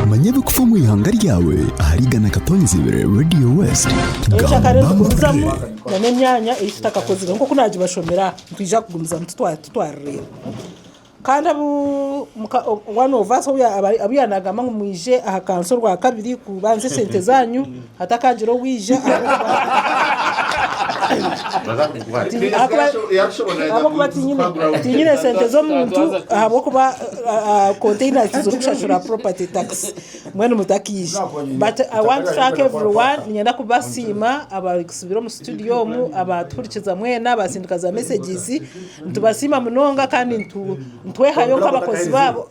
manya ebikufa omu ihanga ryawe ahari igana katonzi ibiri radio west ekyakare gamba nitugumizamu amakuru nana emyanya ei tutakakozire nk'oku naagibashomera aha nitwija kugumizamu tutwa- tutwarireyo kandi abu muka- o- one of us obu ya- aba- abu yaaba naagamba ngu mwije aha kanisa orwakabiri kubanza esente zaanyu Hatakaagira owaija ahabw'okuba tiinyine sente z'omuntu ahabw'okuba konteyina tizirikushashura poropati takisi mbwenu mutakaija bati ayi wanti tu tanka evuri wani niinyenda kubasiima abarikutsibira omu situdiyo omu abaatuhurikiza mwena abaatsindika za mesegizi nitubasiima munonga kandi nitwehayo nk'abakozi baabo.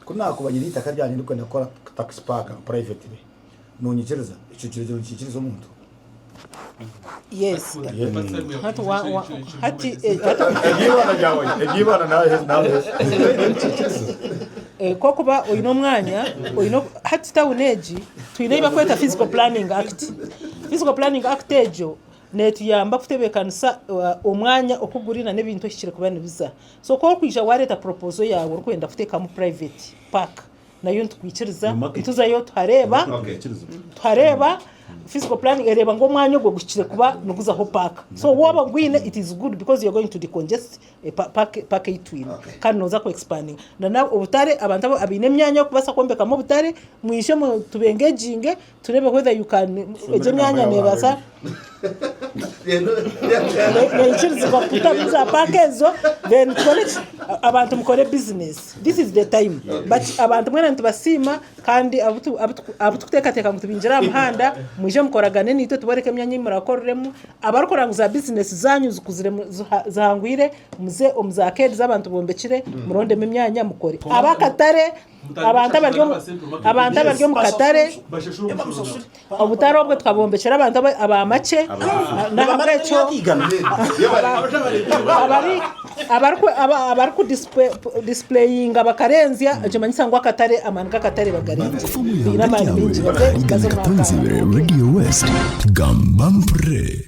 Ku naakubagire eitaka ryangye ndikwenda kukora takisi paaka purayivetire, noonyikiriza? Ekyo kireegyera ngu nikiikiriza omuntu? Yes. Hati wa- wa- hati, eh, hati Eby'eibara ryawe, eby'eibara naahe- naahe. Eh, kokuba oine omwanya oine oku- hati tawuni egi twine ei bakweta physical planning act physical planning act egyo netuyamba kutebeekanisa uh, omwanya oku guri na n'ebintu eki kirikuba nibiza So ku orikwija waareeta puroopozo yaawe orikwenda kuteekamu purayiveeti paaka, nayo nitukwikiriza. Nituzayo tuhareeba, tuhareeba fiziiko puraani ereeba ngu omwanya ogwo guhikire kuba niguzaho paaka. So waaba ogwine it is good because you are going to decongest paaka ei twine kandi nooza kwekisipandinga. N'obutare, abantu abaine emyanya y'okubaasa kwombekamu obutare, mwije tubengeginge. Tureebe whether you can egyo emyanya nebaasa nekirizibwa kutamu za paaka ezo then tukore ki abantu mukore business this is the time but abantu mwena nitubasiima kandi abutu abutu abutukuteekateeka ngu tubingire aha muhanda mwije mukoragane naitwe tubooreke emyanya ei murakoriremu abarikora ngu za business zaanyu zikuzire mu ziha zihangwire muze omu za keedi z'abantu bombekire murondemu emyanya mukore ab'akatare Abantu abari omu- abantu abari omu katare obutare obwo tukabwombekera abantu aba- abamacye nahabwekyo abari abariku- aba- abarikudisipureyinga bakarenzya nikimanyisa ngu akatare amaani g'akatare bagarinzire Baguza omuyonga Baine amaani eryawe maingi baze- ahari baze omu Gana Katanga. Katonzibwe Radio West. Gamba mpurire.